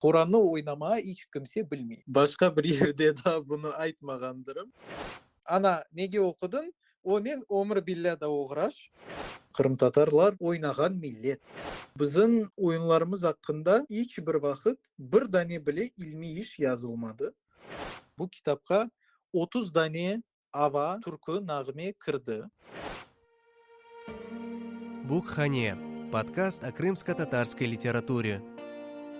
Qurannı oynamağa iç kimse bilmey. Başqa bir yerde daa bunı aytmağandırım. Ana, nege oqudıñ? Onen ömür billâ da oğraş. Qırımtatarlar oynağan millet. Bizim oyunlarımız aqqında iç bir vaqıt bir dane bile ilmiy iş yazılmadı. Bu kitapqa otuz dane Ava türkü nağme kirdi. Bukhane, podkast o krımsko-tatarskoi literaturi.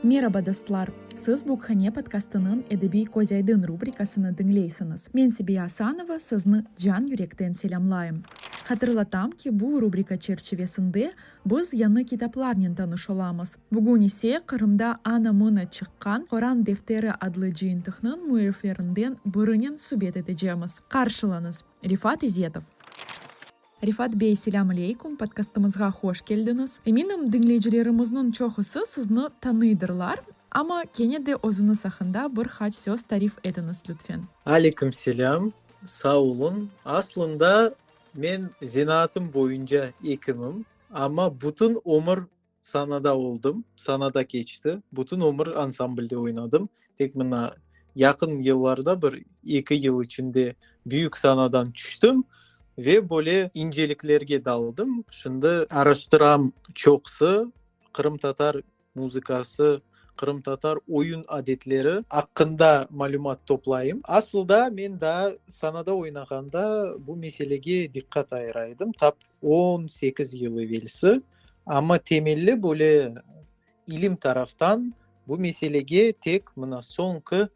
Meraba, dostlar! Siz Bukhane podkastınıñ Edebiy közaydın rubrikasını diñleysiñiz. Men Sebiya Asanova, sizni can-yürekten selâmlayım. Hatırlatam ki, bu rubrika çerçivesinde Biz yañı kitaplarnen tanış olamız. Bugün ise Qırımda ana-mına çıqqan Qoran defteri adlı cıyıntıqnıñ müelliflerinden birinen subet etecemiz. Qarşılañız, Refat İzetov! Refat bey, selâm aleyküm, podkastımızğa hoş keldiñiz. Eminim, diñleyicilerimizniñ çoqusı sizni tanıydırlar, amma kene de özüñiz aqqında bir qaç söz tarif etiñiz, lütfen. Aleyküm selâm, sağ oluñ. Aslında, Men zenaatım boyunca ekimim, amma bütün ömür sanada oldım, sanada keçti, bütün ömür ansamblde oynadım. Tek mına yaqın yıllarda bir eki yıl içinde büyük sanadan tüştim ve böyle inceliklerge daldım. Şimdi araştıram çoqsı qırımtatar. muzıkası, qırımtatar oyun adetleri aqqında malümat toplayım. Asılda men daa sahnada oynağanda bu meselege diqqat ayıra edim, tap on sekiz yıl evelsi. Amma temelli böyle ilim taraftan bu meselege tek mına soñki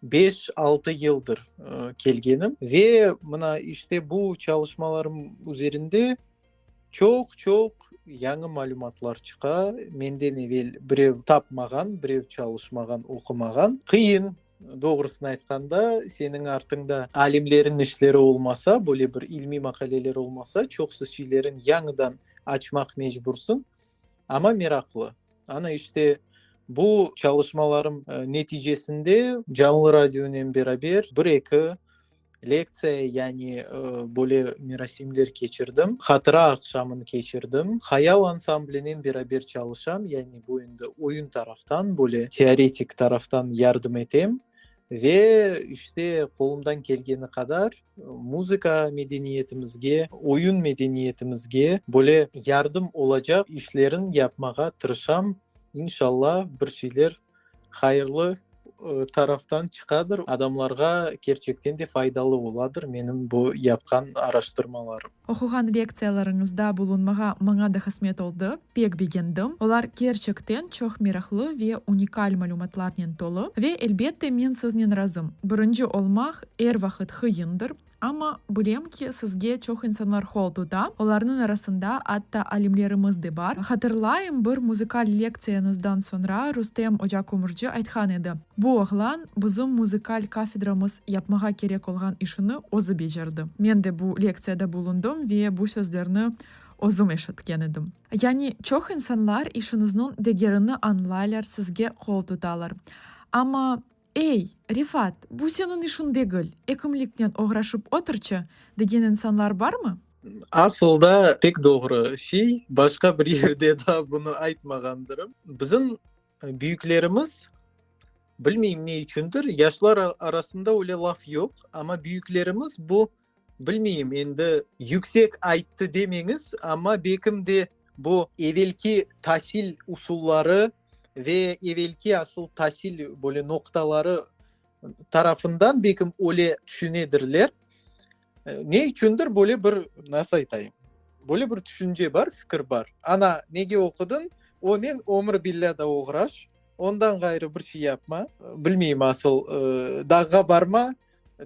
beş, altı yıldır kelgenim. Ve mına işte bu çalışmalarım üzerinde, Çoq, çoq yañı malümatlar çıqa. Menden evel birev tapmağan, birev çalışmağan, oqumağan. Qıyın, doğrusını aytqanda, seniñ artıñda alimleriñ işleri olmasa, böyle bir ilmiy maqaleler olmasa, çoqusı şeylerin yañıdan açmaq mecbursıñ. Amma meraqlı. Ana işte bu çalışmalarım neticesinde canlı radionen beraber bir-eki, lektsiya yani böyle merasimler keçirdim hatıra aqşamın keçirdim hayal ansamblinen beraber çalışam yani bu endi oyun taraftan böyle teoretik taraftan yardım etem ve işte qolumdan kelgeni qadar muzıka medeniyetimizge oyun medeniyetimizge böyle yardım olacaq işlerin yapmağa tırışam inşallah bir şeyler hayırlı taraftan çıqadır, adamlarğa kerçekten de faydalı oladır menim bu yapqan araştırmalarım. Oquğan lektsiyalarıñızda bulunmağa maña da qısmet oldı, pek begendim. Olar kerçekten çoq meraqlı ve unikal malümatlarnen tolu. Ve, elbette, men siznen razım, birinci olmaq er vaqıt qıyındır, Amma, bilem ki, sizge çoq insanlar qol tuta, olarnıñ arasında atta alimlerimiz de bar. Hatırlayım, bir muzıkal lektsiyañızdan soñra Rustem ocakömürci aytqan edi, Bu oğlan bizim muzıkal kafedramız yapmağa kerek olğan işini özü becerdi. Men de bu lektsiyada bulundım ve bu sözlerni özüm eşitken edim. Yani, çoq insanlar işiñizniñ degerini añlaylar, sizge qol tutalar. Amma. Ey, Refat, bu seniñ işiñ degil, ekimliknen oğraşıp oturçı, degen insanlar barmı? Asılda, pek doğru şey, başqa bir yerde daa bunı aytmağandırım. Bizim büyüklerimiz, bilmeyim ne içündir, yaşlar arasında öyle laf yoq, amma büyüklerimiz bu, Bilmeyim, endi yüksek ayttı demeñiz, amma bekim de bu evelki tasil usulları ve evelki asıl tasil böyle noqtaları tarafından bekim öyle tüşünedirler. Ne içündir böyle bir, nasıl aytayım, böyle bir tüşünce bar, fikir bar. Ana, nege oqudıñ, onen ömür billâ da oğraş, ondan ğayrı bir şey yapma, bilmeyim, asıl dağğa barma,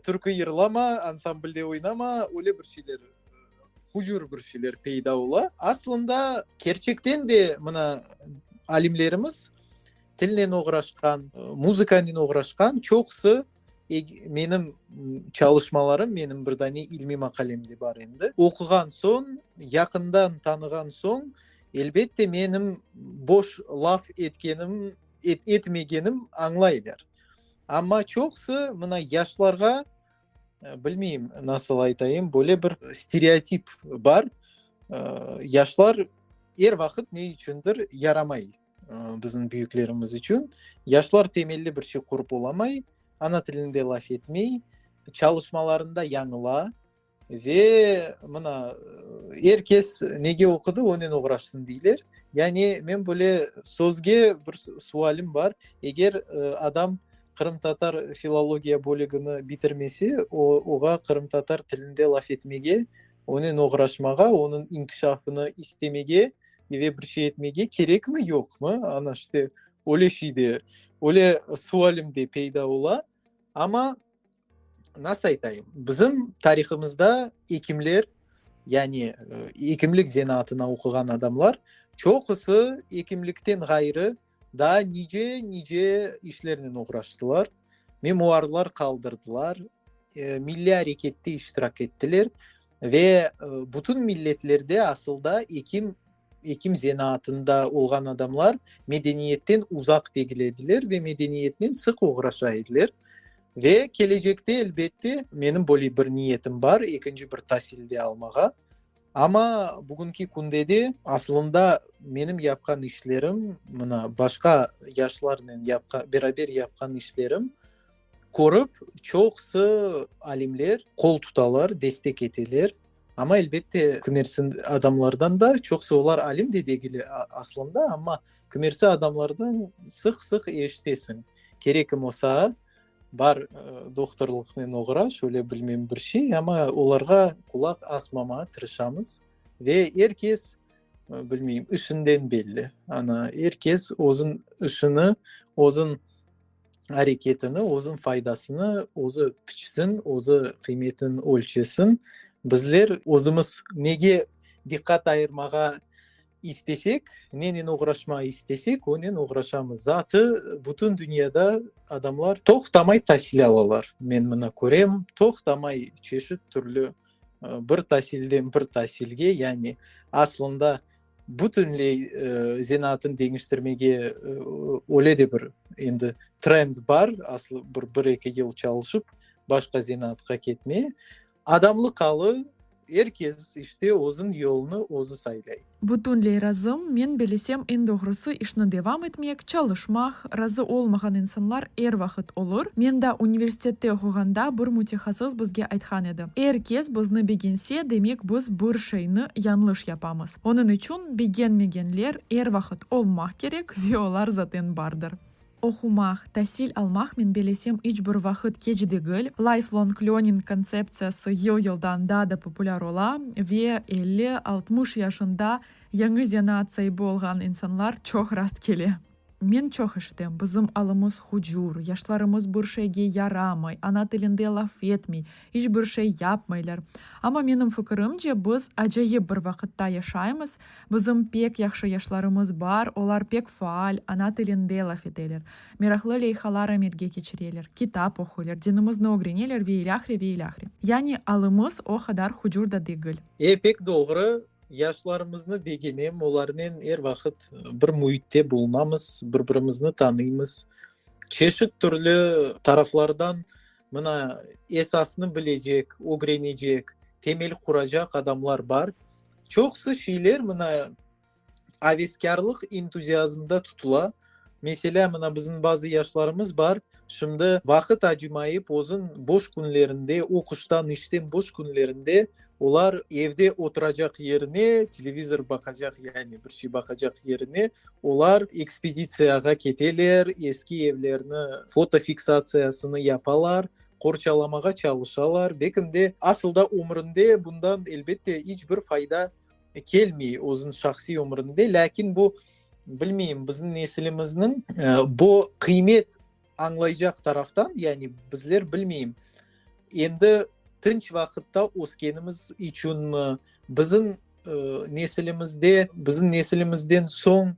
Türkü yırlama, ansamblde oynama, öyle bir şeyler, hucur bir şeyler peyda ola. Aslında, kerçekten de mına alimlerimiz tilnen oğraşqan, muzıkanen oğraşqan çoqusı menim çalışmalarım, menim bir dane ilmiy maqalem de bar endi. Oquğan soñ, yaqından tanığan soñ, elbette, menim boş laf etkenim, etmegenim añlaylar. Amma çoqusı mına yaşlarğa, bilmeyim, nasıl aytayım, böyle bir stereotip bar, yaşlar er vaqıt ne içündir yaramay bizim büyüklerimiz içün. Yaşlar temelli bir şey qurıp olamay, ana tilinde laf etmey, çalışmalarında yañıla. Ve mına, er kes nege oqudı, onen oğraşsın deyler. Yani men böyle sözge bir sualim bar, eger adam qırımtatar filologiya bölügini bitirmese, oğa qırımtatar tilinde laf etmege, onen oğraşmağa, onıñ inkişafını istemege ve bir şey etmege kerekmi, yoqmı? Ana işte öyle şey de, öyle sualim de peyda ola. Amma, nasıl aytayım, bizim tarihımızda ekimler, yani ekimlik zenaatına oquğan adamlar çoqusı ekimlikten ğayrı daa nice, nice işlernen oğraştılar, memuarlar qaldırdılar, milliy arekette iştirak ettiler. Ve bütün milletlerde asılda ekim, ekim zenaatında olğan adamlar medeniyetten uzaq degil ediler ve medeniyetnen sıq oğraşa ediler. Ve kelecekte, elbette, menim böyle bir niyetim bar, ekinci bir tasil de almağa. Amma bugünki künde de asılında menim yapqan işlerim, mına, başqa yaşlarnen yapqan, beraber yapqan işlerim, Körip, çoqusı alimler qol tutalar, destek eteler. Amma, elbette, kümersi adamlardan da, çoqusı olar alim de degil aslında, amma kümersi adamlardan sıq-sıq eşitesiñ, kerek imo saña, bar doktorlıqnen oğra, şöyle bilmem bir şey, amma olarğa qulaq asmamağa tırışamız. Ve er kes, bilmeyim, işinden belli. Ana, er kes özüñ işini, özüñ areketini, özün faydasını özü piçsin, özü qıymetin ölçesin. Bizler özümiz nege diqqat ayırmağa istesek, nenen oğraşmağa istesek, onen oğraşamız. Zatı bütün dünyada adamlar toqtamay tasil alalar. Men mına körem, toqtamay çeşit-türlü bir tasilden bir tasilge, yani aslında, Bütünley zenaatını deñiştirmege öyle de bir endi trend bar, aslı bir, bir-eki yıl çalışıp, başqa zenaatqa ketme. Adamlı qalı, er kes işte özün yolunı özü saylay. Bütünley razım, men belesem, eñ doğrusı işni devam etmek, çalışmaq, razı olmağan insanlar er vaqıt olur. Men da universitette oquğanda bir mütehassıs bizge aytqan edi, er kes bizni begense, demek biz bir şeyni yañlış yapamız. Onıñ içün begenmegenler er vaqıt olmaq kerek ve olar zaten bardır. Oqumaq, tasil almaq men belesem iç bir vaqıt keç degil. Lifelong learning kontseptsiyası yıl-yıldan daa da populâr ola ve elli, altmış yaşında yañı zenaat saibi olğan insanlar çoq rast kele. Men çoq eşitem, bizim alımız hucur, yaşlarımız bir şeyge yaramay, ana tilinde laf etmey, iç bir şey yapmaylar. Amma menim fikirimce, biz acayip bir vaqıtta yaşaymız, bizim pek yahşı yaşlarımız bar, olar pek faal, ana tilinde laf eteler, meraqlı leyhalar amelge keçireler, kitap oquylar, dinimizni ögreneler ve ilâhre, ve ilâhre. Yani alımız o qadar hucur da degil. E, pek doğru. Yaşlarımıznı begenem, olarnen er vaqıt bir müitte bulunamız, bir-birimizni tanıymız. Çeşit türlü taraflardan mına esasnı bilecek, ögrenecek, temel quracaq adamlar bar. Çoqusı şeyler mına aveskârlıq entuziazmda tutula. Meselâ, mına, bizim bazı yaşlarımız bar, şimdi vaqıt acımayıp, özün boş künlerinde, oquştan, işten boş künlerinde olar evde oturacaq yerine, televizor baqacaq, yani bir şey baqacaq yerine, olar ekspeditsiyağa keteler, eski evlerni fotofiksatsiyasını yapalar, qorçalamağa çalışalar. Bekim de, asıl da ömründe bundan, elbette, iç bir fayda kelmey özüniñ şahsiy ömründe, lâkin bu, bilmeyim, bizim nesilimizniñ bu qıymet añlaycaq taraftan, yani bizler, bilmeyim, endi tınç vaqıtta öskenimiz içünmi, bizim nesilimizde, bizim nesilimizden soñ,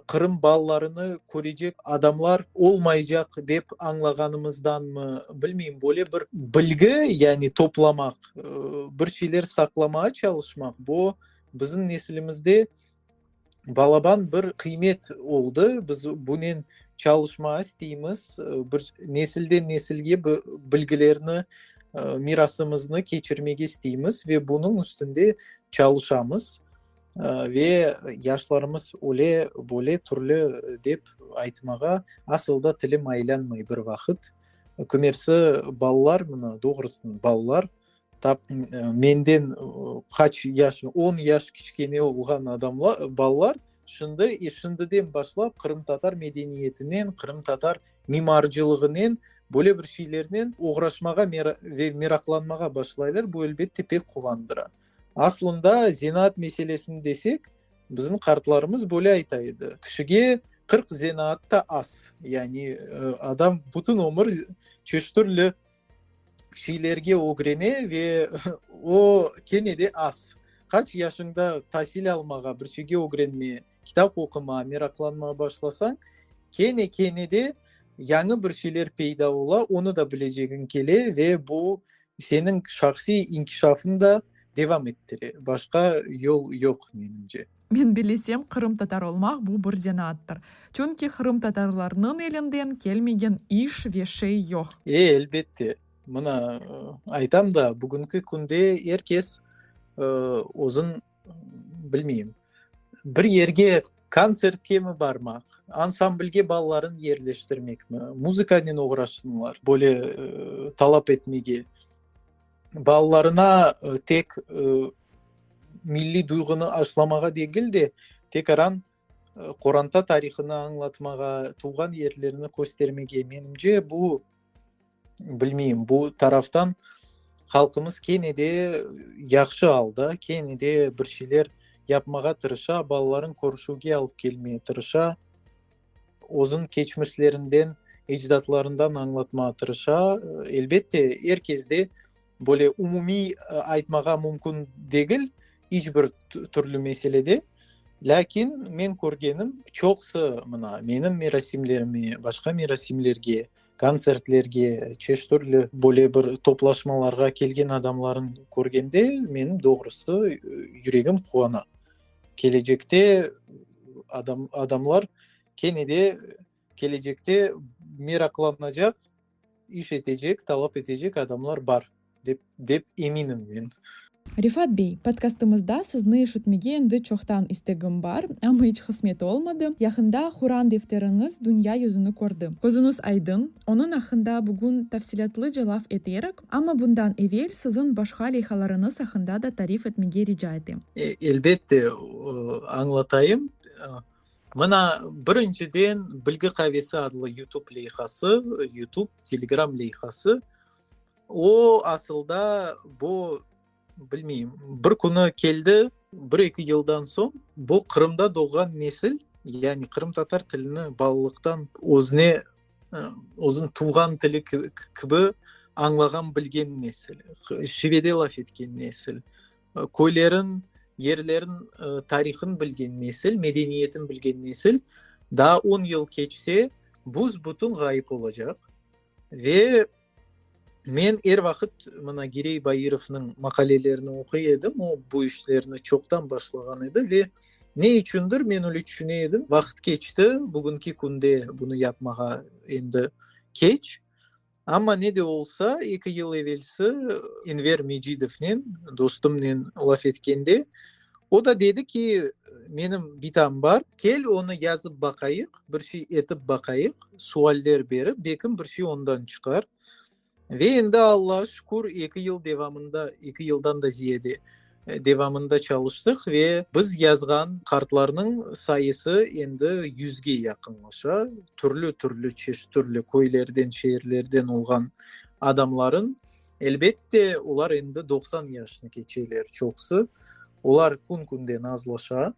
Qırım balalarını körecek adamlar olmaycaq dep añlağanımızdanmı, bilmeyim, böyle bir bilgi, yani toplamaq, bir şeyler saqlamağa çalışmaq, bu bizim nesilimizde balaban bir qıymet oldı. Biz bunen çalışmağa isteymiz, bir nesilden nesilge bilgilerni, mirasımıznı keçirmege isteymiz ve bunıñ üstünde çalışamız. Ve yaşlarımız öyle, böyle, türlü dep aytmağa asıl da tilim aylanmay bir vaqıt. Kümersi balalar bunı, doğrusını balalar, tap menden qaç yaş, on yaş kiçkene olğan adamlar, balalar şimdi, şimdiden başlap qırımtatar medeniyetinen, qırımtatar mimarcılığınen, böyle bir şeylernen oğraşmağa ve meraqlanmağa başlaylar, bu elbette pek quvandıra. Aslında zenaat meselesini desek, bizim qartlarımız böyle ayta edi, kişige qırq zenaat ta az, yani adam bütün ömür çeşit türlü şeylerge ögrene ve o kene de az. Qaç yaşıñda tasil almağa, bir şeyge ögrenme, kitap oqumağa meraqlanmağa başlasañ, kene kene de yañı bir şeyler peyda ola, onı da bilecegiñ kele ve bu Seniñ şahsiy inkişafıñ da devam ettire, başqa yol yoq, menimce. Men bilesem, qırımtatar olmaq bu bir zenaattır. Çünki qırımtatarlarnıñ elinden kelmegen iş ve şey yoq. E, elbette. Mına, aytam da, bugünki künde er kes özün. bilmeyim, bir yerge kontsertke mi barmaq, ansamblge balalarını yerleştirmekmi, muzıkanen oğraşsınlar, böyle talap etmege, balalarına tek milliy duyğunı aşılamağa degil de, tek aran. Qoranta tarihını añlatmağa, tuvğan yerlerini köstermege, menimce, bu, bilmeyim, bu taraftan halqımız kene de yahşı alda, kene de bir şeyler yapmağa tırışa, balalarını körüşüvge alıp kelmege tırışa, özüniñ keçmişlerinden, ecdatlarından añlatmağa tırışa. Elbette, er kezde Böyle umumiy aytmağa mümkün degil, iç bir türlü meselede. Lâkin men körgenim, çoqusı mına menim merasimlerime, başqa merasimlerge, kontsertlerge, çeşit türlü böyle bir toplaşmalarğa kelgen adamlarnı körgende, menim doğrusı yüregim quvana. Kelecekte adamlar kene de Kelecekte meraqlanacaq, iş etecek, talap etecek adamlar bar, dep eminim men. Refat bey, podkastımızda sizni eşitmege endi çoqtan istegim bar, amma iç qısmet olmadı. Yaqında Quran defteriñiz dünya yüzüni kördi. Közüñiz aydın, onıñ aqqında bugün tafsilâtlıca laf eterik, amma bundan evel siziñ başqa leyhalarıñız aqqında da tarif etmege rica etem. Elbette, añlatayım. Mına, birinciden, Bilgi qavesi adlı Yutub leyhası, Yutub, Telegram leyhası. O, asılda, bu, bilmeyim, bir künü keldi, bir-eki yıldan soñ bu Qırımda doğğan nesil, yani qırımtatar tilini balalıqtan özüne, özüniñ tuvğan tili kibi añlağan-bilgen nesil, şivede laf etken nesil, Köylerin, yerlerin tarihın bilgen nesil, medeniyetin bilgen nesil daa on yıl keçse büs-bütün ğayıp olacaq. Ve men er vaqıt mına Girey Bairovnıñ maqalelerini oquy edim, o bu işlerni çoqtan başlağan edi ve ne içündir men öyle tüşüne edim, vaqıt keçti, bugünki künde bunı yapmağa endi keç, Amma ne de olsa, eki yıl evelsi Enver Mecidovnen, dostumnen laf etkende, o da dedi ki, menim bitam bar, kel onı yazıp baqayıq, bir şey etip baqayıq, sualler berip, belkim bir şey ondan çıqar. Ve endi Allağa şükür, eki yıl devamında, eki yıldan da ziyade, Devamında çalıştıq ve biz yazğan kartlarnıñ sayısı endi yüzge yaqınlaşa. Türlü-türlü çeşit, türlü köylerden, şeerlerden olğan adamların, elbet de, olar endi doqsan yaşnı keçeler çoqusı. Olar kün-künden azlaşa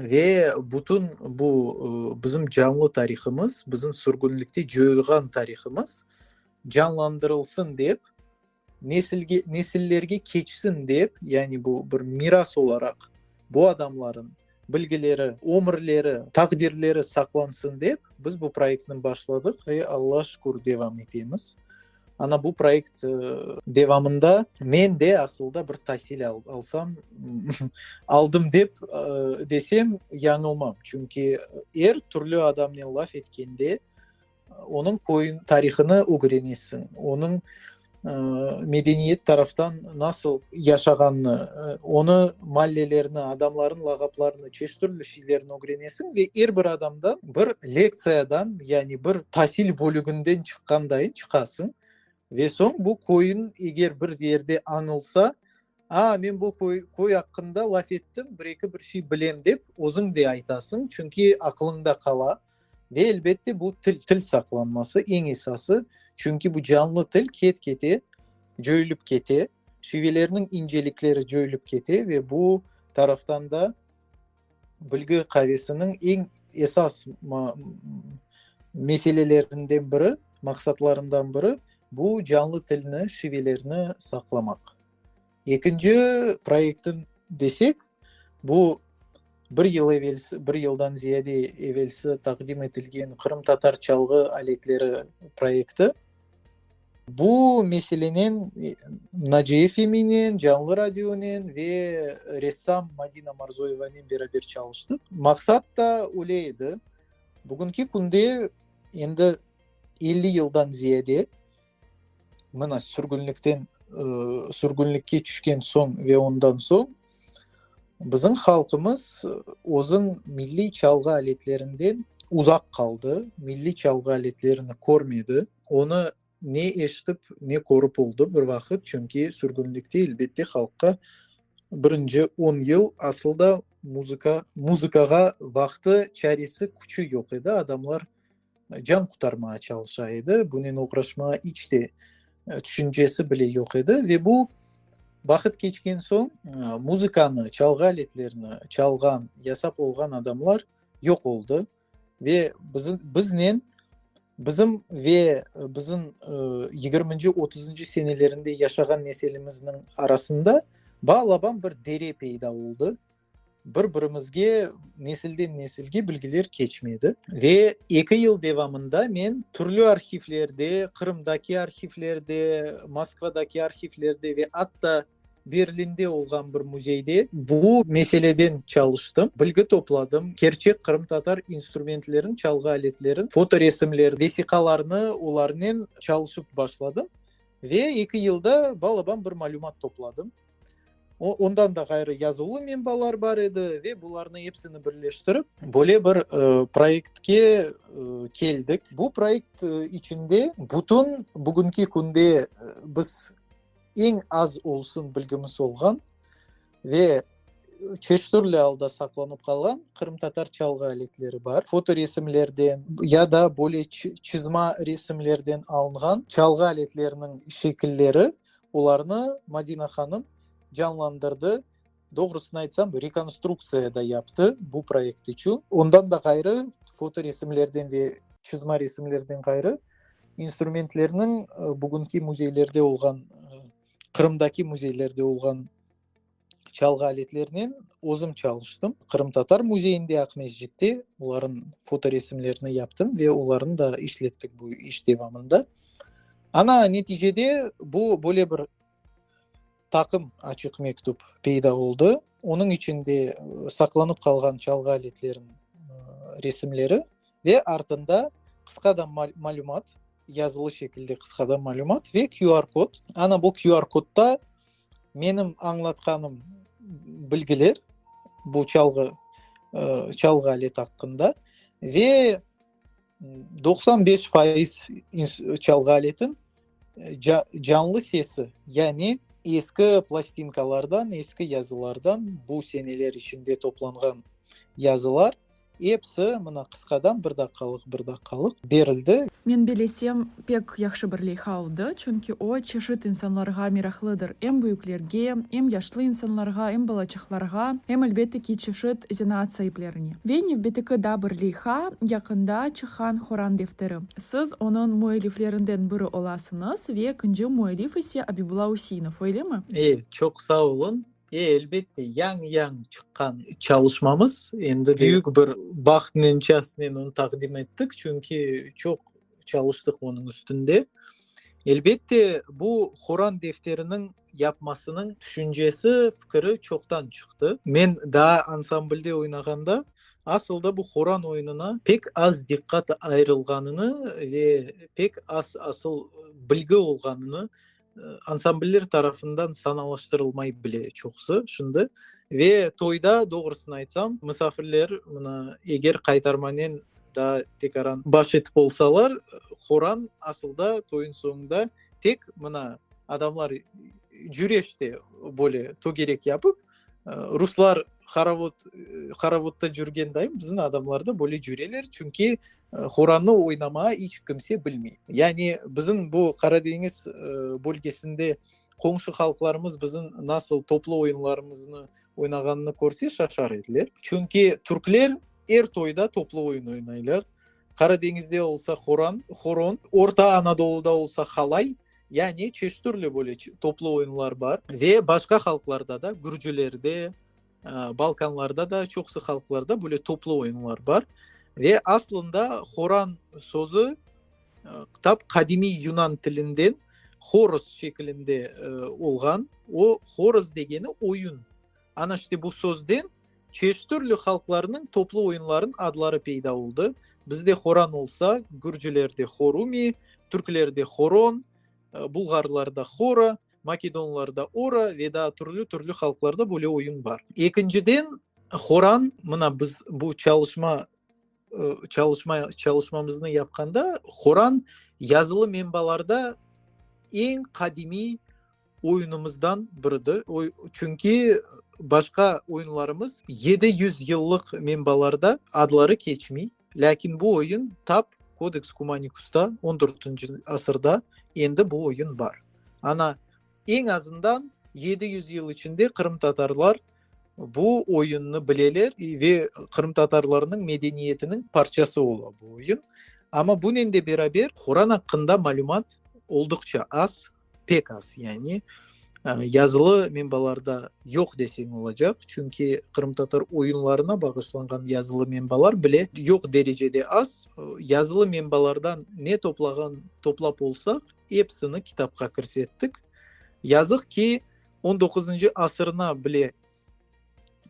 ve bütün bu bizim canlı tarihımız, bizim sürgünlikte coyulğan tarihımız canlandırılsın dep, Nesilge, nesillerge keçsin dep, yani bu bir miras olaraq bu adamlarnıñ bilgileri, ömürleri, taqdirleri saqlansın dep, biz bu proyektni başladıq ve Alla şükür devam etemiz. Ana bu proyekt devamında men de asılda bir tasil alsam, aldım dep desem yañılmam. Çünki er türlü adamnen laf etkende, Onıñ köyün, tarihını ögrenesiñ, onıñ medeniyet taraftan nasıl yaşağanını, onı mallelerini, adamların lağaplarını, çeşit türlü şeylerini ögrenesiñ ve er bir adamdan bir lektsiyadan, yani bir tasil bölüginden çıqqandayın çıqasıñ. Ve soñ bu köyün eger bir yerde añılsa, a, men bu köy aqqında laf ettim, bir eki bir şey bilem dep, özüñ de aytasıñ, çünki aqılıñda qala. Ve elbette bu til, til saqlanması eñ esası, çünki bu canlı til ket-kete cöyülip kete, şivelerniñ incelikleri cöyülip kete ve bu taraftan da bilgi qavesiniñ eñ esas meselelerinden biri, maqsatlarından biri bu canlı tilni, şivelerni saqlamaq. Ekinci proyektin desek, bu bir yıl evel, bir yıldan ziyade evelsi taqdim etilgen qırımtatar çalğı aletleri proyekti. Bu meselenen Naciye Feminen, Canlı Radionen ve ressam Madina Marzoyevanen beraber çalıştıq. Maqsat da öyle edi, bugünki künde endi elli yıldan ziyade, Mına, sürgünlikten, sürgünlikke tüşken soñ ve ondan soñ bizim halqımız özüñ milliy çalğı aletlerinden uzaq qaldı, milliy çalğı aletlerini körmedi. Onı ne eşitip, ne körip oldı bir vaqıt, çünki sürgünlikte, elbette, halqqa birinci on yıl asıl da muzıka, muzıkağa vaqtı, çaresi, küçü yoq edi. Adamlar. can qutarmağa çalışa edi, bunen oğraşmağa iç de tüşüncesi bile yoq edi. Ve bu vaqıt keçken soñ, muzıkanı, çalğı aletlerini çalğan, yasap olğan adamlar yoq oldı. Ve bizim, biznen, bizim ve bizim yigirminci, otuzıncı senelerinde yaşağan neselimizniñ arasında bala-bala bir dere peyda oldı. Bir-birimizge nesilden nesilge bilgiler keçmey edi. Ve eki yıl devamında men türlü arhivlerde, Qırımdaki arhivlerde, Moskvadaki arhivlerde ve atta Berlinde olğan bir müzeyde bu meseleden çalıştım, bilgi topladım, kerçek qırımtatar instrumentlerin, çalğı aletlerin fotoresimler, vesiqalarnı olarnen çalışıp başladım. Ve eki yılda bal-abam bir malümat topladım. Ondan da ğayrı yazılı menbalar bar edi ve bularnı epsini birleştirip, böyle bir proyektke keldik. Bu proyekt içinde bütün bugünki künde biz eñ az olsun bilgimiz olğan ve çeşitürlü alda saqlanıp qalğan qırımtatar çalğı aletleri bar. Fotoresimlerden ya da böyle çizma resimlerden alınğan çalğı aletleriniñ şekilleri Olarnı Madina hanım canlandırdı, doğrusını aytsam, rekonstruktsiya da yaptı bu proyekt içün. Ondan da ğayrı, fotoresimlerden ve çızma resimlerden ğayrı, instrumentlerniñ bugünki müzeylerde olğan, Qırımdaki müzeylerde olğan, çalğı aletlerinen özüm çalıştım. Qırımtatar müzeyinde, Aqmescitte olarnıñ fotoresimlerini yaptım ve olarnı da işlettik bu iş devamında. Ana, neticede bu böyle bir taqım açıq mektüp peyda oldı. Onıñ içinde saqlanıp qalğan çalğı aletleriniñ resimleri ve artında qısqa da malümat, yazılı şekilde qısqa da malümat ve QR kod. Ana, bu QR kodda Menim añlatqanım bilgiler bu çalğı, çalğı aleti aqqında ve doqsan beş faiz çalğı aletin canlı sesi, yani eski plastinkalardan, eski yazılardan, bu seneler içinde toplanğan yazılar, Episi, mına, qısqadan, bir daqqalıq, bir daqqalıq berildi. Men belesem, pek yahşı bir leyha oldı, çünki o, çeşit insanlarğa meraqlıdır, em büyüklerge, em yaşlı insanlarğa, em balaçıqlarğa, em, elbette ki, çeşit zenaat saiplerine. Ve nevbetiki da bir leyha, yaqında çıqqan Qoran defteri. Siz onıñ müelliflerinden biri olasıñız ve ekinci müellif ise Abibulla Üseinov, öylemi? E, çoq sağ oluñ. E, elbette, yañ-yañ çıqqan çalışmamız, endi büyük bir baht nencesinen onı taqdim ettik, çünki çoq çalıştıq onıñ üstünde. Elbette, bu Quran defteriniñ yapmasınıñ tüşüncesi, fikri çoqtan çıqtı. Men daa ansamblde oynağanda, asılda bu Quran oyununa pek az diqqat ayırılğanını ve pek az asıl bilgi olğanını, Ansambller tarafından sanalaştırılmay bile çoqusı şimdi. Ve toyda, doğrusını aytsam, misafirler mına eger qaytarmanen daa tekaran baş etip olsalar, horan asılda toyuñ soñunda tek mına adamlar cüreşte böyle togerek yapıp, Ruslar horovod, horovodda cürgen dayım bizim adamlarda böyle cüreler, çünki horannı oynamağa iç kimse bilmey. Yani bizim bu Qara deñiz bölgesinde qomşu halqlarımız bizim nasıl toplu oyunlarımıznı oynağanını körse şaşar ediler. Çünki Türkler er toyda toplu oyun oynaylar. Qara deñizde olsa horan, horon, Orta Anadoluda olsa halay. Yani çeşit türlü böyle toplu oyunlar bar. Ve başqa halqlarda da, gürcülerde, balkanlarda da, çoqusı halqlarda böyle toplu oyunlar bar. Ve aslında horan sözü tam qadimiy yunan tilinden horos şekilinde olğan. O horos degeni oyun. Ana işte bu sözden çeştürlü halqlarnıñ toplu oyunlarınıñ adları peyda oldı. Bizde horan olsa, gürcilerde horumi, türklerde horon, bulğarlarda hora, makedonlarda ora ve daa türlü-türlü halqlarda böyle oyun bar. Ekinciden, horan, mına biz bu çalışma. Çalışma, çalışmamıznı yapqanda Quran yazılı menbalarda eñ qadimiy oyunımızdan biridir. Çünki başqa oyunlarımız yedi yüz yıllıq menbalarda adları keçmey, lâkin bu oyun tap Kodeks Kumanikusta, on dörtünci asırda endi bu oyun bar. Ana, eñ azından yedi yüz yıl içinde qırımtatarlar bu oyunnı bileler ve qırımtatarlarnıñ medeniyetiniñ parçası ola bu oyun. Amma bunen de beraber Quran aqqında malümat olduqça az, pek az, yani yazılı menbalarda yoq deseñ olacaq, çünki qırımtatar oyunlarına bağışlanğan yazılı menbalar bile yoq derecede az. Yazılı menbalardan ne toplağan, toplap olsaq, Epsini kitapqa kirsettik. Yazıq ki, on doquzuncı asırına bile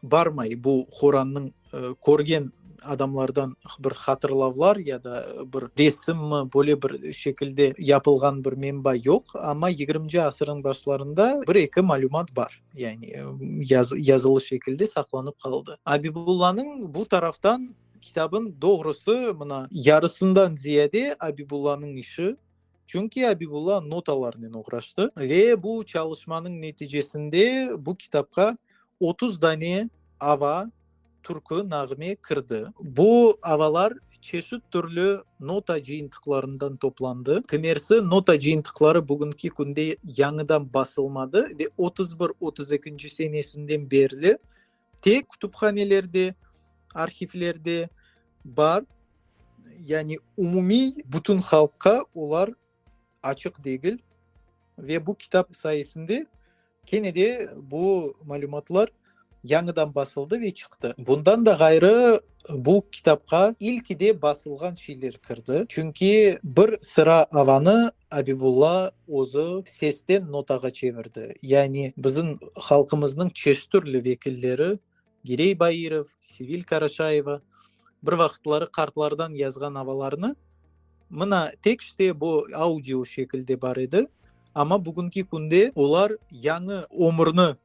barmay bu Qorannıñ körgen adamlardan bir hatırlavlar ya da bir resimmi, böyle bir şekilde yapılğan bir menba yoq. Amma yigirminci asırnıñ başlarında bir-eki malümat bar. Yani yazılı şekilde saqlanıp qaldı. Abibullanıñ bu taraftan kitabın doğrusı mına yarısından ziyade Abibullanıñ işi. Çünki Abibulla notalarnen oğraştı ve bu çalışmanıñ neticesinde bu kitapqa otuz dane ava, türkü nağme kirdi. Bu avalar çeşit türlü nota cıyıntıqlarından toplandı. Kimersi nota cıyıntıqları bugünki künde yañıdan basılmadı ve otuz bir, otuz ekinci senesinden berli, Tek kütüphanelerde, arhivlerde bar, yani umumiy bütün halqqa olar açıq degil. Ve bu kitap sayesinde kene de bu malümatlar yañıdan basıldı ve çıqtı. Bundan da ğayrı, bu kitapqa ilkide basılğan şeyler kirdi. Çünki bir sıra avanı Abibulla özü sesten notağa çevirdi. Yani bizim halqımıznıñ çeştürli vekilleri, Girey Bairov, Sevil Karaşayeva, bir vaqıtları qartlardan yazğan avalarını mına tekste bu audio şekilde bar edi, amma bugünki künde olar yañı ömürni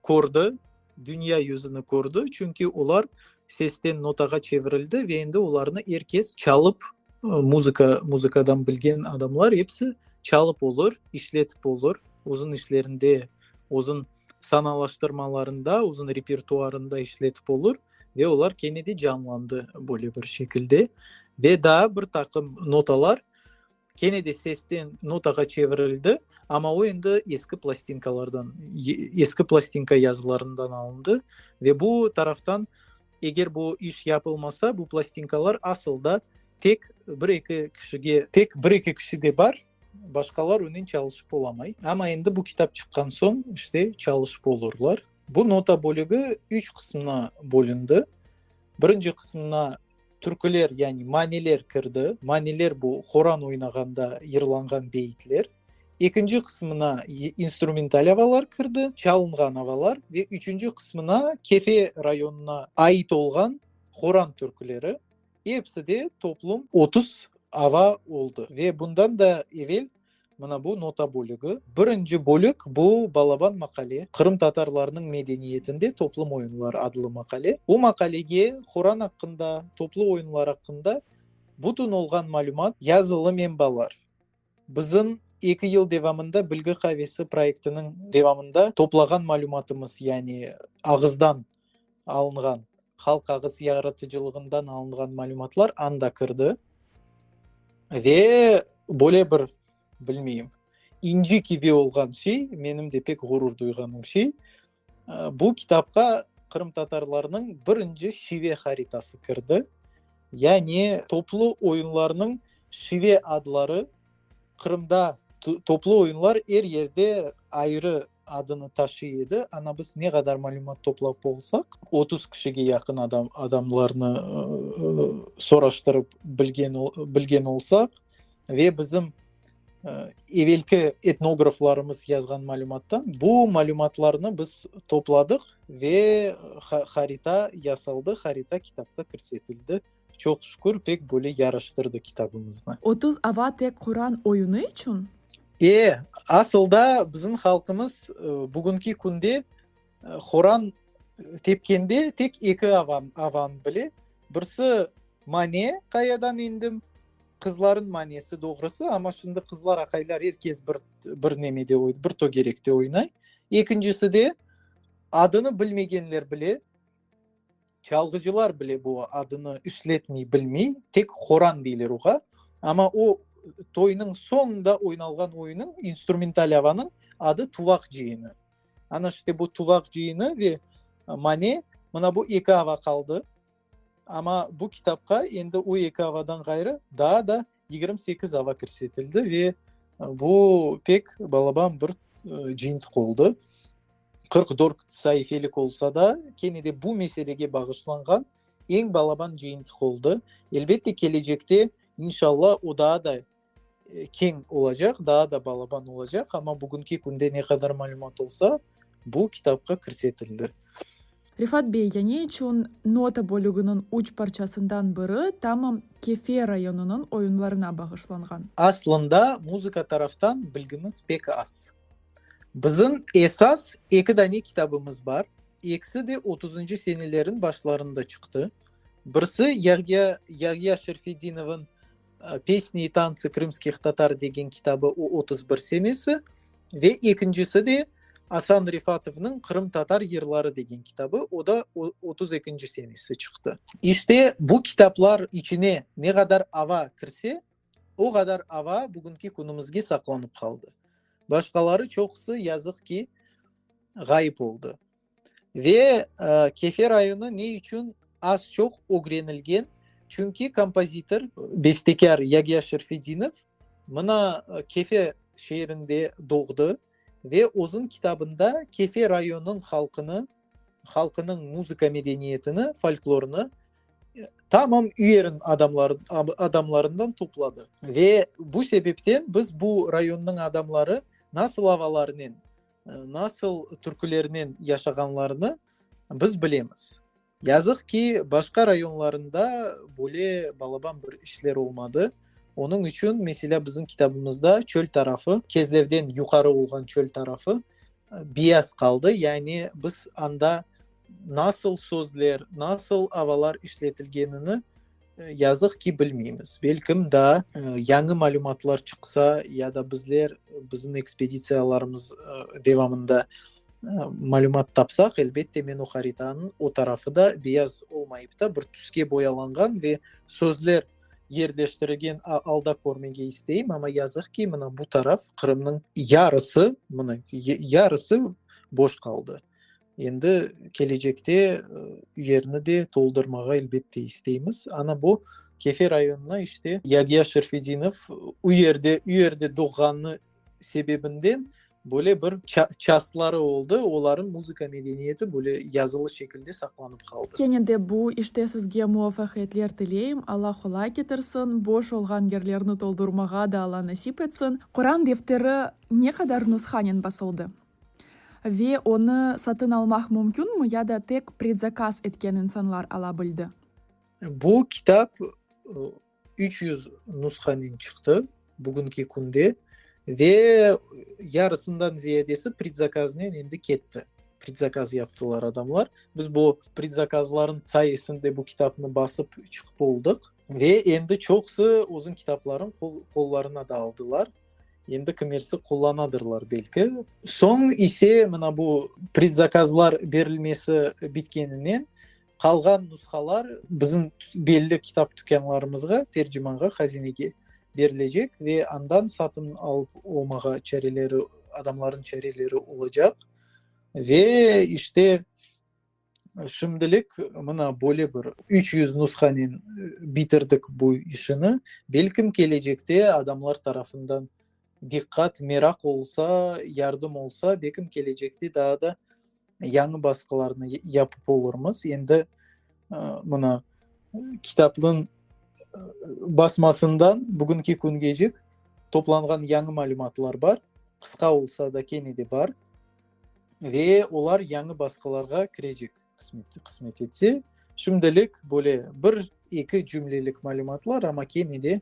kördi, Dünya yüzüni kördi, çünki olar sesten notağa çevirildi ve endi olarnı er kes çalıp, muzıka, muzıkadan bilgen adamlar episi çalıp olur, işletip olur, özün işlerinde, özün sanalaştırmalarında, özün repertuarında işletip olur ve olar kene de canlandı böyle bir şekilde. Ve daa bir taqım notalar Kene de sesten notağa çevirildi, amma o endi eski plastinkalardan, eski plastinka yazılarından alındı ve bu taraftan, eger bu iş yapılmasa, bu plastinkalar asıl da tek bir-eki kişige, tek bir-eki kişide bar, başqalar onen çalışıp olamay. Amma endi bu kitap çıqqan soñ, işte, çalışıp olurlar. Bu nota bölügi üç qısımdan bölündi. Birinci qısımda Türküler, yani maniler kirdi. Maniler bu Qoran oynağanda yırlanğan beyitler. Ekinci qısmına instrumental avalar kirdi, çalınğan avalar ve üçünci qısmına Kefe rayonına ait olğan Qoran türküleri. Episi de toplum otuz ava oldı ve bundan da evel Mına bu nota bölügi. Birinci bölük, bu Balaban maqale, qırımtatarlarnıñ medeniyetinde toplum oyunları adlı maqale. Bu maqalege Quran aqqında, toplu oyunlar aqqında bütün olğan malümat, yazılı menbalar, bizim eki yıl devamında Bilgi qavesi proyektiniñ devamında toplağan malümatımız, yani ağızdan alınğan, halq ağız yaratıcılığından alınğan malümatlar anda kirdi. Ve böyle bir, bilmeyim, inci kibi olğan şey, menim de pek ğurur duyğanım şey, bu kitapqa qırımtatarlarnıñ birinci şive haritası kirdi. Yani toplu oyunlarnıñ şive adları, Qırımda toplu oyunlar er yerde ayrı adını taşıy edi. Ana biz ne qadar malümat toplap olsaq, otuz kişige yaqın adam, adamlarnı soraştırıp bilgen, bilgen olsaq ve bizim evelki etnograflarımız yazğan malümattan bu malümatlarnı biz topladıq ve harita yasaldı, harita kitapqa kirsetildi. Çoq şükür, pek böyle yaraştırdı kitabımıznı. Otuz ava tek Quran oyunı içün? E, asılda bizim halqımız bugünki künde Quran tepkende tek eki avanı bile. Birisi mane, qayadan endim, qızların manesi doğrusı, amma şimdi qızlar, aqaylar er kes bir nemede, bir tögerekte oynay. Ekincisi de adını bilmegenler bile. Çalğıcılar bile bu adını işletmey bilmey, tek qoran deyler oğa. Amma o toynıñ soñunda oynalğan oyunıñ, instrumental avanıñ adı Tuvaq cıyını. Ana işte bu Tuvaq cıyını ve Mane, mına bu eki ava qaldı. Amma bu kitapqa endi o eki avadan ğayrı daa da Yigirmi sekiz ava kirsetildi ve bu pek balaban bir cintq oldı. Qırq dört saifelik olsa da, kene de bu meselege bağışlanğan eñ balaban cintq oldı. Elbette, kelecekte, inşallah, o daa da keñ olacaq, daa da balaban olacaq, amma bugünki künde ne qadar malümat olsa, Bu kitapqa kirsetildi. Refat bey, yane içün nota bölüginiñ üç parçasından biri tamam Kefe rayonınıñ oyunlarına bağışlanğan? Aslında, muzıka taraftan bilgimiz pek az. Bizim esas eki dane kitabımız bar, ekisi de otuzıncı seneleriñ başlarında çıqtı. Birisi Yagya Yagya Şerfeddinovnıñ Pesni i tantsi krımskih tatar degen kitabı o otuz bir senesi ve ekincisi de Asan Refatovnıñ Qırımtatar yırları degen kitabı, o da otuz ekinci senesi çıqtı. İşte bu kitaplar içine ne qadar ava kirse, o qadar ava bugünki künümizge saqlanıp qaldı. Başqaları çoqusı, yazıq ki, ğayıp oldı. Ve Kefe rayonı ne içün az-çoq ögrenilgen, çünki kompozitor, bestekâr Yagâ Şerfedinov mına Kefe şeerinde doğdı ve özüñ kitabında Kefe rayonınıñ halqını, halqınıñ muzıka medeniyetini, folklorını tamam üyerın adamlarından topladı. Ve bu sebepten biz bu rayonınıñ adamları nasıl avalarnen Nasıl türkülernen yaşağanlarını biz bilemiz. Yazıq ki, başqa rayonlarında böyle balaban bir işler olmadı. Onıñ içün, meselâ, bizim kitabımızda çöl tarafı, Kezlevden yuqarı olğan çöl tarafı biyaz qaldı. Yani biz anda nasıl sözler, nasıl avalar işletilgenini, Yazıq ki, bilmeymiz. Belkim daa yañı malümatlar çıqsa ya da bizler bizim ekspeditsiyalarımız devamında malümat tapsaq, elbette, men o haritanıñ o tarafı da beyaz olmayıp da, bir tüske boyalanğan ve sözler yerleştirilgen alda körmege isteyim. Amma yazıq ki, mına bu taraf Qırımnıñ yarısı, mına yarısı boş qaldı. Endi kelecekte yerni de toldurmağa elbette isteymiz. Ana bu Kefe rayonına işte Yagiya Şerfedinov u yerde, u yerde doğğanı sebebinden böyle bir çastları oldı, olarnıñ muzıka medeniyeti böyle yazılı şekilde saqlanıp qaldı. Kene de bu işte sizge muvafaqiyetler tileyim, Alla qolay ketirsin, boş olğan yerlerni toldurmağa da Alla nasip etsin. Quran defteri ne qadar nushanen basıldı? Ve onı satın almaq mümkünmi ya da tek predzakaz etken insanlar ala bildi? Bu kitap üç yüz nushanen çıqtı bugünki künde ve yarısından ziyadesi predzakaznen endi ketti. Predzakaz yaptılar adamlar. Biz bu predzakazlarnıñ sayesinde bu kitapnı basıp çıqıp oldıq ve endi çoqusı özüñ kitaplarıñ qollarına da aldılar. Endi kimersi qullanadırlar belki. Soñ ise, mına bu predzakazlar berilmesi bitkeninen, qalğan nushalar bizim belli kitap tükânlarımızğa, tercimanğa, hazinege berilecek ve andan satın alıp olmağa çareleri, adamlarnıñ çareleri olacaq. Ve işte, Şimdilik mına böyle bir üç yüz nushanen bitirdik bu işini. Belkim kelecekte adamlar tarafından diqqat, meraq olsa, yardım olsa, belkim kelecekte daa da yañı basqılarnı yapıp olurmız. Endi mına kitaplığın basmasından bugünki küngecik toplanğan yañı malümatlar bar, qısqa olsa da kene de bar. ve olar yañı basqılarğa kirecek, qısmet etse. Şimdilik böyle bir-eki cümlelik malümatlar, amma kene de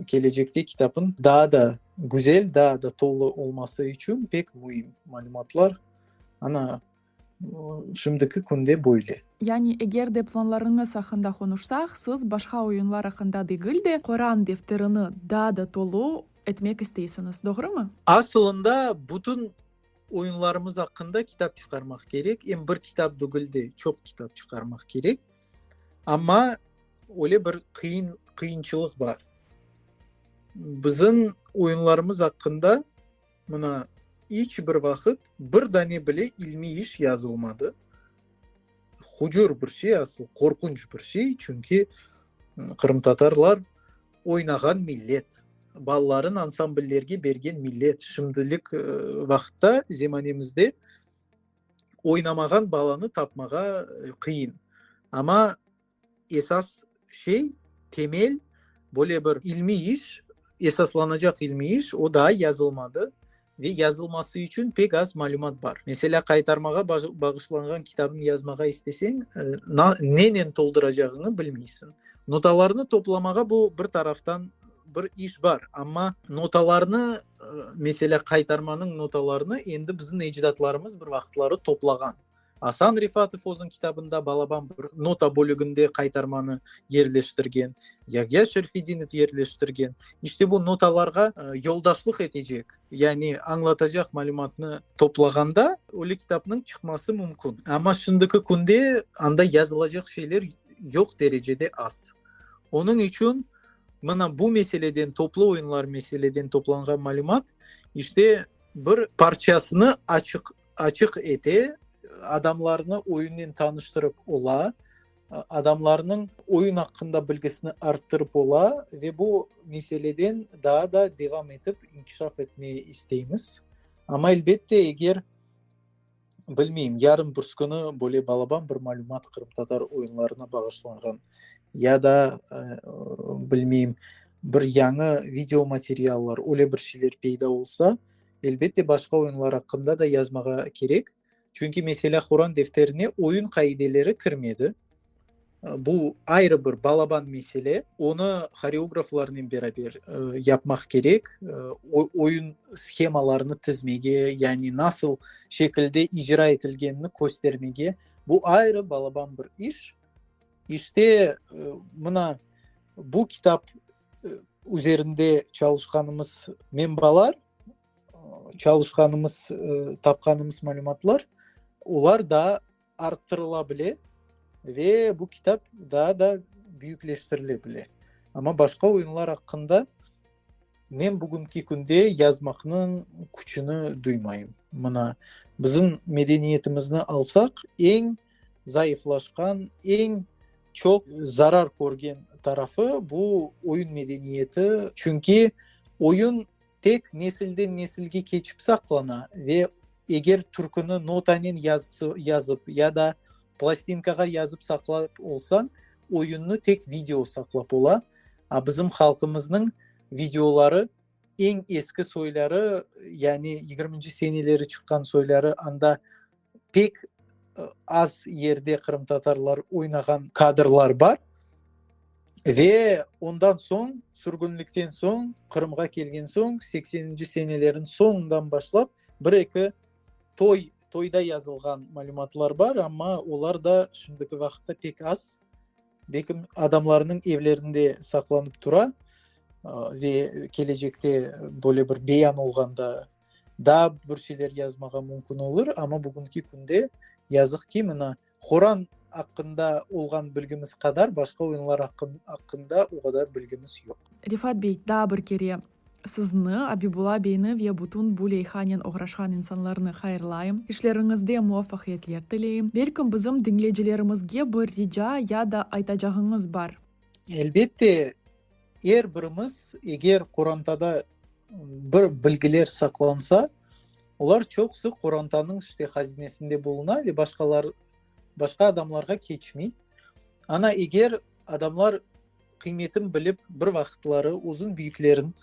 kelecekte kitapnıñ daa da güzel, daa da tolu olması içün pek müim malümatlar. Ana, şimdiki künde böyle. Yani, eger de planlarıñız aqqında qonuşsaq, siz başqa oyunlar aqqında degil de, Qoran defterini daa da tolu etmek isteysiñiz, doğrumı? Asılında, bütün Oyunlarımız aqqında kitap çıqarmaq kerek, em bir kitap degil de, çoq kitap çıqarmaq kerek. Amma öyle bir qıyın, qıyınçılıq bar. Bizim oyunlarımız aqqında mına iç bir vaqıt bir dane bile ilmiy iş yazılmadı. Hucur bir şey asıl, qorqunç bir şey, çünki qırımtatarlar Oynağan millet, balaların ansambllerge bergen millet, şimdilik vaqıtta, zemanemizde oynamağan balanı tapmağa qıyın. Amma esas şey, temel, böyle bir ilmiy iş, esaslanacaq ilmiy iş, o daa yazılmadı. ve yazılması içün pek az malümat bar. Meselâ, qaytarmağa bağışlanğan kitabnı yazmağa isteseñ, nenen tolduracağıñı bilmeysiñ. Notalarnı toplamağa bu bir taraftan bir iş bar, amma notalarnı, meselâ, qaytarmanıñ notalarını endi bizim ecdatlarımız bir vaqıtları toplağan. Asan Refatov özüñ kitabında Balaban bir nota bölüginde qaytarmanı yerleştirgen, Yahya Şerfidinov yerleştirgen. İşte bu notalarğa yoldaşlıq etecek, yani añlatacaq malümatnı toplağanda ölü kitapnıñ çıqması mümkün. Amma şimdiki künde anda yazılacaq şeyler yoq derecede az. Onıñ içün mına bu meseleden, toplu oyunlar meseleden toplanğan malümat işte bir parçasını açıq. Açıq ete, adamlarnı oyunnen tanıştırıp ola, adamlarnıñ oyun aqqında bilgisini arttırıp ola ve bu meseleden daa da devam etip inkişaf etmege isteymiz. Amma, elbette, eger, bilmeyim, yarın birsi künü böyle balaban bir malümat qırımtatar oyunlarına bağışlanğan ya da, bilmeyim, bir yañı videomateriallar, öyle bir şeyler peyda olsa, Elbette, başqa oyunlar aqqında da yazmağa kerek. Çünki, meselâ, Quran defterine oyun qaideleri kirmedi. Bu, ayrı bir balaban mesele. Onı horeograflarnen beraber yapmaq kerek. Oyun shemalarını tizmege, yani nasıl şekilde icra etilgenini köstermege. Bu, ayrı balaban bir iş. İşte, mına, bu kitap üzerinde çalışqanımız menbalar, çalışqanımız, tapqanımız malümatlar, olar daa arttırıla bile ve bu kitap daa da büyükleştirile bile. Amma başqa oyunlar aqqında men bugünki künde yazmaqnıñ küçüni duymayım. Mına, bizim medeniyetimizni alsaq, eñ Zayıflaşqan, eñ çoq zarar körgen tarafı, bu oyun medeniyeti. Çünki oyun tek nesilden nesilge keçip saqlana ve eger türküni notanen yazıp ya da plastinkağa yazıp saqlap olsañ, oyunnı tek video saqlap ola. A bizim halqımıznıñ videoları, Eñ eski soyları, yani yigirminci seneleri çıqqan soyları anda pek az yerde qırımtatarlar oynağan kadrlar bar. Ve ondan soñ, sürgünlikten soñ, Qırımğa kelgen soñ, sekseninci senelerin soñundan başlap bir eki toy, toyda yazılğan malümatlar bar, amma olar da şimdiki vaqıtta pek az. Bekim adamlarnıñ evlerinde saqlanıp tura ve kelecekte böyle bir beyan olğanda daa bir şeyler yazmağa mümkün olur, amma bugünki künde yazıq ki, mına Quran aqqında olğan bilgimiz qadar başqa oyunlar aqqında o qadar bilgimiz yoq. Refat bey, daa bir kere Sizni, Abibula beyni ve bütün bu leyhanen oğraşqan insanlarnı hayırlayım, işleriñizde muvafaqiyetler tileyim. Belkim bizim diñleycilerimizge bir rica ya da aytacağıñız bar? Elbette, er birimiz, eger qorantada bir bilgiler saqlansa, olar çoqusı qorantanıñ işte hazinesinde buluna ve başqalar, başqa adamlarğa keçmey. Ana, eger adamlar. Qıymetim bilip, bir vaqıtları uzun büyüklerin,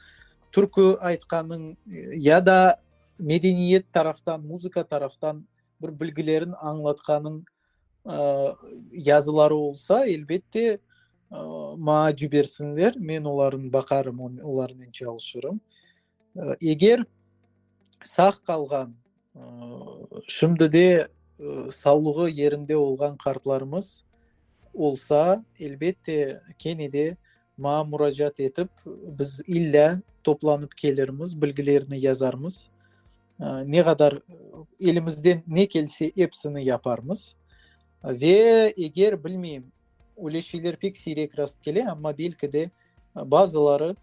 türkü aytqanıñ ya da medeniyet taraftan, muzıka taraftan bir bilgilerin añlatqanıñ yazıları olsa, elbette, maa cibersinler, men olarnı baqarım, olarnen çalışırım. Eger sağ qalğan, şimdi de savlığı yerinde olğan qartlarımız olsa, elbette, kene de maña muracaat etip, biz illâ toplanıp kelirmiz, bilgilerini yazarmız. Ne qadar elimizden ne kelse, episini yaparmız. Ve eger, bilmeyim, öyle şeyler pek siyrek rast kele, amma belki de bazıları,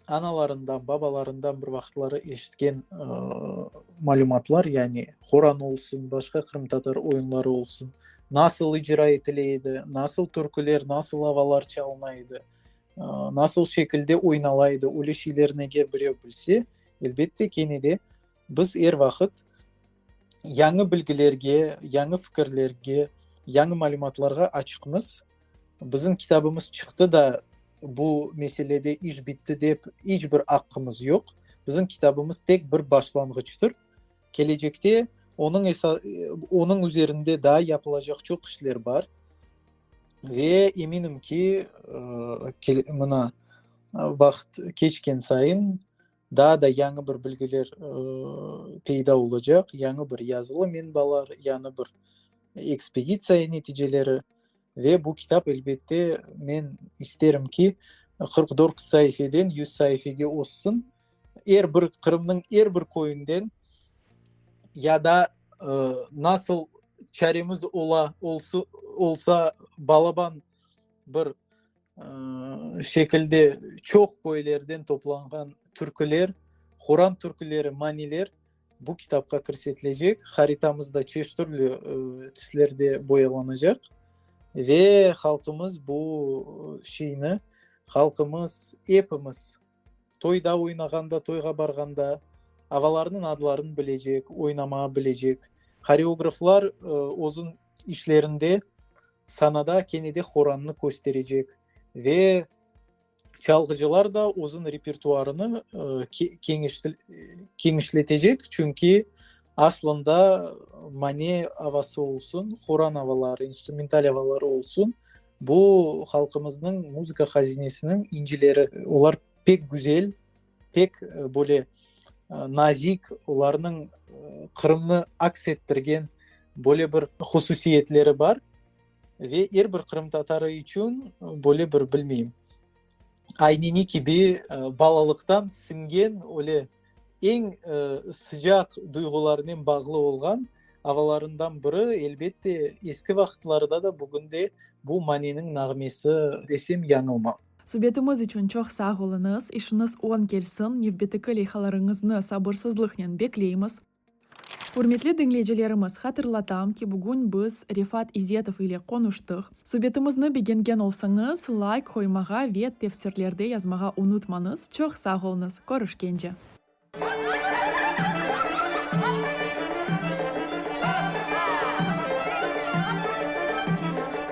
analarından, babalarından bir vaqıtları eşitken malümatlar, yani Qoran olsun, başqa qırımtatar oyunları olsun, nasıl icra etile edi, nasıl türküler, nasıl avalar çalına edi, nasıl şekilde oynala edi, öyle şeylerni eger birey bilse, elbette, kene de Biz er vaqıt yañı bilgilerge, yañı fikirlerge, yañı malümatlarğa açıqmız. Bizim kitabımız çıqtı da, bu meselede iş bitti dep iç bir aqqımız yoq. Bizim kitabımız tek bir başlanğıçtır. Kelecekte onıñ esa, onıñ üzerinde daa yapılacaq çoq işler bar. Ve eminim ki, mına, vaqıt keçken sayın, Daa da yañı bir bilgiler peyda olacaq, yañı bir yazılı menbalar, yañı bir ekspeditsiya neticeleri. Ve bu kitap, elbette, men isterim ki, qırq dört saifeden yüz saifege oşsun. Er bir, Qırımnıñ er bir köyünden ya da nasıl çaremiz ola, olsa, balaban bir şekilde çoq köylerden toplanğan türküler, Quran türküleri, maniler bu kitapqa kirsetilecek. Haritamız da çeşit türlü tüslerde boyalanacaq. Ve halqımız bu şeyni, halqımız, epimiz Toyda oynağanda, toyğa barğanda ağalarnıñ adlarını bilecek, oynamağa bilecek. Horeograflar özün işlerinde sanada kene de horannı kösterecek ve çalğıcılar da özün repertuarını keñişletecek, çünki aslında mane avası olsun, horan avaları, instrumental avaları olsun, Bu, halqımıznıñ muzıka hazinesiniñ incileri. Olar pek güzel, pek böyle nazik, olarnıñ Qırımnı aks ettirgen böyle bir hususiyetleri bar. Ve er bir qırımtatarı içün böyle bir, bilmeyim, ayneni kibi balalıqtan singen öyle Eñ sıcaq duyğularnen bağlı olğan avalarından biri, elbette, eski vaqıtlarda da, bugün de bu maniniñ nağmesi, desem yañılmam. Subetimiz içün çoq sağ oluñız, işiñiz oñ kelsin, nevbeteki leyhalarıñıznı sabırsızlıqnen bekleymiz. Ürmetli diñleycilerimiz, hatırlatam ki, bugün biz Refat İzetov ile qonuştıq. Subetimizni begengen olsañız, layk qoymağa ve tefsirlerde yazmağa unutmañız. Çoq sağ olñız. Körüşkence.